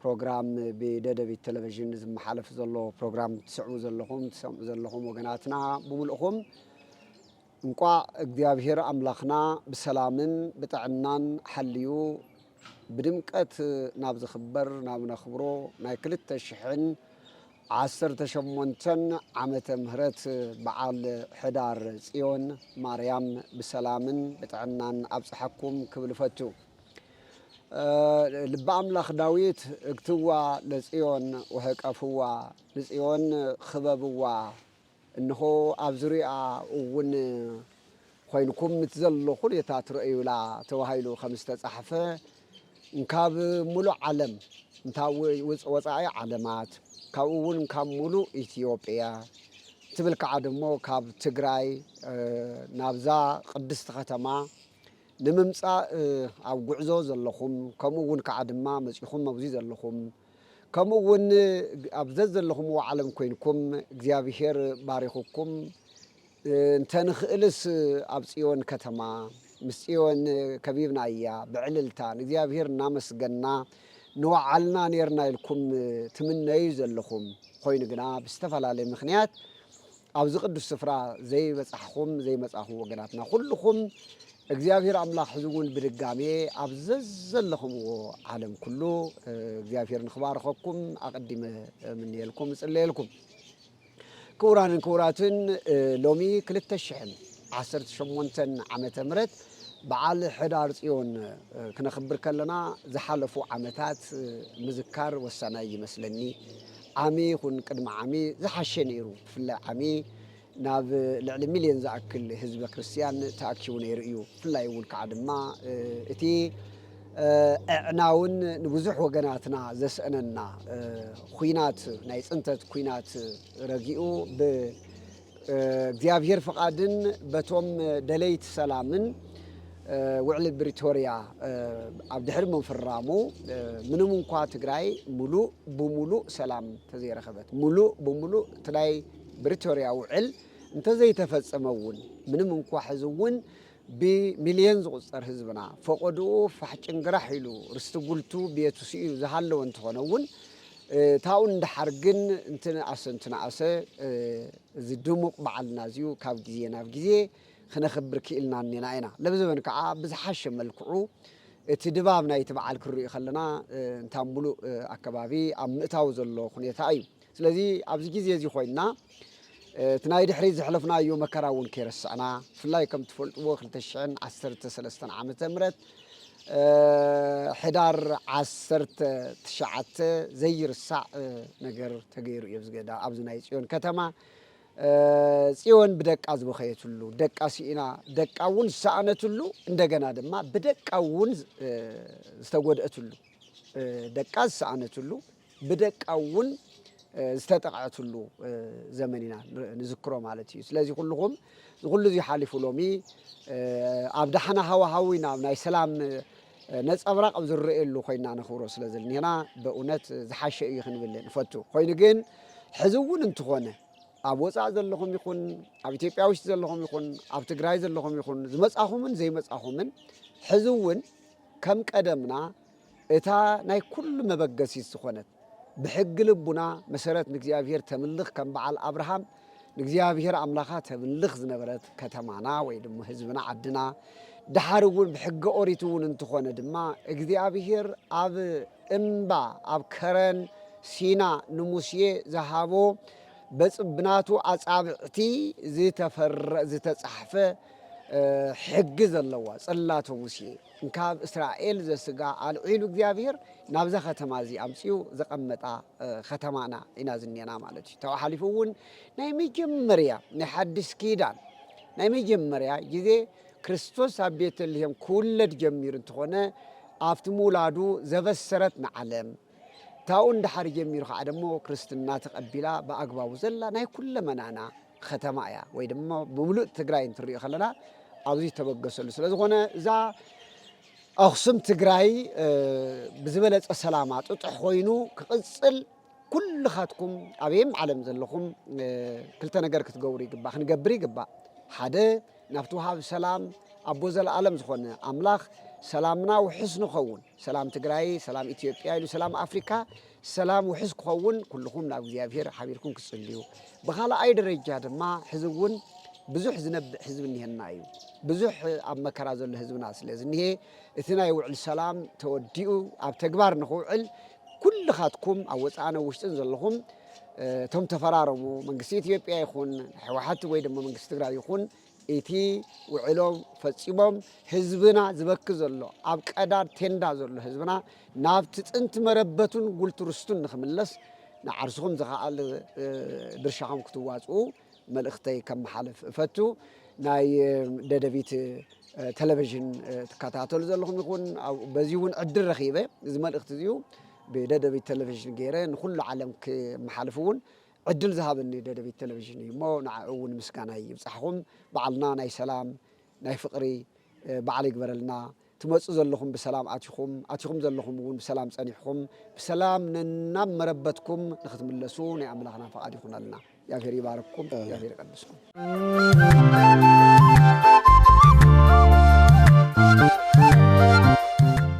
ፕሮግራም ብደደቢት ቴለቭዥን ዝመሓለፍ ዘሎ ፕሮግራም ትስዕቡ ዘለኹም ትሰምዑ ዘለኹም ወገናትና ብምልእኹም እንቋዕ እግዚኣብሔር ኣምላኽና ብሰላምን ብጥዕናን ሓልዩ ብድምቀት ናብ ዝኽበር ናብ ነኽብሮ ናይ ክልተ ሽሕን ዓሰርተ ሸሞንተን ዓመተ ምህረት በዓል ሕዳር ጽዮን ማርያም ብሰላምን ብጥዕናን ኣብጽሓኩም ክብል እፈቱ። ልበ ኣምላኽ ዳዊት እግትዋ ለጽዮን ወሀቀፍዋ፣ ንጽዮን ኽበብዋ፣ እንሆ፣ ኣብ ዙርያኣ እውን ኾይንኩም እቲ ዘሎ ዅነታት ርኣዩላ ተባሂሉ ኸም ዝተጻሕፈ፣ እንካብ ምሉእ ዓለም፣ እንታ ወጻኢ ዓለማት፣ ካብኡ እውን እንካብ ምሉእ ኢትዮጵያ፣ ትብል ከዓ ደሞ ካብ ትግራይ ናብዛ ቕድስቲ ኸተማ፣ ንምምጻእ ኣብ ጉዕዞ ዘለኹም ከምኡ ውን ከኣ ድማ መጺኹም ኣብዚ ዘለኹም ከምኡ ውን ኣብ ዘዘለኹምዎ ዓለም ኮይንኩም እግዚኣብሄር ባሪኹኩም እንተ ንኽእልስ ኣብ ጽዮን ከተማ ምስ ጽዮን ከቢብናያ ብዕልልታ ንእግዚኣብሄር እናመስገና ንወዓልና ኔርና ኢልኩም ትምነዩ ዘለኹም ኾይኑ ግና ብዝተፈላለየ ምኽንያት ኣብዚ ቅዱስ ስፍራ ዘይበጻሕኹም ዘይመጻኹም ወገናትና ኩልኹም እግዚኣብሔር ኣምላኽ ሕዚ እውን ብድጋሜ ኣብ ዘዘለኹምዎ ዓለም ኩሉ እግዚኣብሔር ንክባርኸኩም ኣቐዲመ እምንየልኩም እጽለየልኩም። ክቡራንን ክቡራትን ሎሚ 218 ዓመተ ምህረት በዓል ሕዳር ጽዮን ክነኽብር ከለና ዝሓለፉ ዓመታት ምዝካር ወሳናይ ይመስለኒ። ዓሚ ይኹን ቅድሚ ዓሚ ዝሓሸ ነይሩ፣ ብፍላይ ዓሚ ናብ ልዕሊ ሚልዮን ዝኣክል ህዝበ ክርስትያን ተኣኪቡ ነይሩ እዩ፣ ብፍላይ እውን ከዓ ድማ እቲ ኣዕናውን ንብዙሕ ወገናትና ዘስእነና ኹናት ናይ ፅንተት ኩናት ረጊኡ ብ እግዚኣብሔር ፍቓድን በቶም ደለይቲ ሰላምን ውዕሊ ብሪቶርያ ኣብ ድሕሪ ምፍራሙ ምንም እንኳ ትግራይ ሙሉእ ብሙሉእ ሰላም ተዘይረኸበት ሙሉእ ብሙሉእ እቲ ናይ ብሪቶርያ ውዕል እንተዘይተፈጸመ እውን ምንም እንኳ ሕዚ እውን ብሚልዮን ዝቑጸር ህዝብና ፈቖድኡ ፋሕ ጭንግራሕ ኢሉ ርስቲ ጉልቱ ቤቱ ስኢኑ ዝሃለወ እንተኾነ'ውን ታኡ ንደሓር ግን እንትንኣሰ እንትንኣሰ እዚ ድሙቕ በዓልና እዚዩ ካብ ግዜ ናብ ግዜ ክነኽብር ክኢልና እኔና ኢና። ለብዘበን ከኣ ብዝሓሸ መልክዑ እቲ ድባብ ናይቲ በዓል ክንሪኡ ከለና እንታ ምሉእ ኣከባቢ ኣብ ምእታው ዘሎ ኩኔታ እዩ። ስለዚ ኣብዚ ግዜ እዚ ኮይንና እቲ ናይ ድሕሪት ዘሕለፍናዮ መከራ እውን ከይረሳዕና ብፍላይ ከም ትፈልጥዎ ክልተ ሽሕን ዓሰርተ ሰለስተን ዓመተ ምህረት ሕዳር ዓሰርተ ትሽዓተ ዘይርሳዕ ነገር ተገይሩ እዩ ኣብዚ ገዳ ኣብዚ ናይ ፅዮን ከተማ ጽዮን ብደቃ ዝበኸየትሉ ደቃ ስኢና ደቃ እውን ዝሰኣነትሉ እንደገና ድማ ብደቃ እውን ዝተጎድአትሉ ደቃ ዝሰኣነትሉ ብደቃ እውን ዝተጠቕዐትሉ ዘመን ኢና ንዝክሮ ማለት እዩ ስለዚ ኩልኹም ንኩሉ እዚ ሓሊፉ ሎሚ ኣብ ዳሕና ሃዋሃዊ ናብ ናይ ሰላም ነፀብራቕ ኣብ ዝረኣየሉ ኮይና ነኽብሮ ስለ ዘልኒና በእውነት ዝሓሸ እዩ ክንብል ንፈቱ ኮይኑ ግን ሕዚ እውን እንትኾነ ኣብ ወፃእ ዘለኹም ይኹን ኣብ ኢትዮጵያ ውሽጢ ዘለኹም ይኹን ኣብ ትግራይ ዘለኹም ይኹን ዝመፃኹምን ዘይመፃኹምን ሕዚ እውን ከም ቀደምና እታ ናይ ኩሉ መበገሲት ዝኾነት ብሕጊ ልቡና መሰረት ንእግዚኣብሔር ተምልኽ ከም በዓል ኣብርሃም ንእግዚኣብሔር ኣምላኻ ተምልኽ ዝነበረት ከተማና ወይ ድማ ህዝብና ዓድና ድሓር እውን ብሕገ ኦሪት እውን እንትኾነ ድማ እግዚኣብሄር ኣብ እምባ ኣብ ከረን ሲና ንሙሴ ዝሃቦ ብናቱ ኣጻብዕቲ ዝተፈረ ዝተጻሕፈ ሕጊ ዘለዋ ጽላተ ሙሴ እንካብ እስራኤል ዘስጋ ኣልዒሉ እግዚኣብሔር ናብዛ ከተማ እዚ ኣምጺኡ ዘቐመጣ ከተማና ኢና ዝኔና ማለት እዩ ተባሓሊፉ እውን ናይ መጀመርያ ናይ ሓድሽ ኪዳን ናይ መጀመርያ ግዜ ክርስቶስ ኣብ ቤተልሔም ክውለድ ጀሚሩ እንተኾነ ኣብቲ ምውላዱ ዘበሰረት ንዓለም ታኡ እንዳሓር ጀሚሩ ከዓ ደሞ ክርስትና ተቐቢላ ብኣግባቡ ዘላ ናይ ኩለመናና ኸተማ እያ ወይ ድማ ብምሉእ ትግራይ እንትንሪኦ ከለና ኣብዚ ዝተበገሰሉ ስለ ዝኾነ እዛ ኣኽሱም ትግራይ ብዝበለፀ ሰላማ ጥጡሕ ኮይኑ ክቕፅል ኩልኻትኩም ኣበየም ዓለም ዘለኹም ክልተ ነገር ክትገብሩ ይግባእ ክንገብር ይግባእ ሓደ ናብቲ ውሃብ ሰላም ኣቦ ዘለኣለም ዝኾነ ኣምላኽ ሰላምና ውሑስ ንኸውን ሰላም ትግራይ ሰላም ኢትዮጵያ ኢሉ ሰላም ኣፍሪካ ሰላም ውሕስ ክኸውን ኩልኹም ናብ እግዚኣብሄር ሓቢርኩም ክትጽልዩ፣ ብኻልኣይ ደረጃ ድማ ሕዚ እውን ብዙሕ ዝነብዕ ህዝቢ እኒሀና እዩ። ብዙሕ ኣብ መከራ ዘሎ ህዝብና ስለ ዝኒሄ እቲ ናይ ውዕል ሰላም ተወዲኡ ኣብ ተግባር ንክውዕል ኩልኻትኩም ኣብ ወፃእን ኣብ ውሽጥን ዘለኹም እቶም ተፈራረሙ መንግስቲ ኢትዮጵያ ይኹን ህወሓት ወይ ድማ መንግስቲ ትግራይ ይኹን ኢቲ ውዕሎ ፈጺሞም ህዝብና ዝበኪ ዘሎ ኣብ ቀዳድ ቴንዳ ዘሎ ህዝብና ናብቲ ጥንቲ መረበቱን ጉልት ርስቱን ንክምለስ ንዓርስኹም ዝካኣል ድርሻኹም ክትዋጽኡ መልእክተይ ከመሓልፍ እፈቱ ናይ ደደቢት ተለቨዥን ትካታተሉ ዘለኹም ይኹን በዚ እውን ዕድል ረኺበ እዚ መልእክት እዚኡ ብደደቢት ተለቨዥን ገይረ ንኹሉ ዓለም ክመሓልፍ እውን ዕድል ዝሃበኒ ደደቢት ቴለቪዥን እዩ እሞ ንዓዑ እውን ምስጋናይ ይብፃሕኹም። በዓልና ናይ ሰላም ናይ ፍቕሪ በዓል ይግበረልና። ትመፁ ዘለኹም ብሰላም ኣቲኹም ኣቲኹም ዘለኹም እውን ብሰላም ፀኒሕኹም ብሰላም ነናብ መረበትኩም ንክትምለሱ ናይ ኣምላኽና ፈቓድ ይኹነልና። እግዚኣብሔር ይባርክኩም፣ እግዚኣብሔር ይቐድስኩም።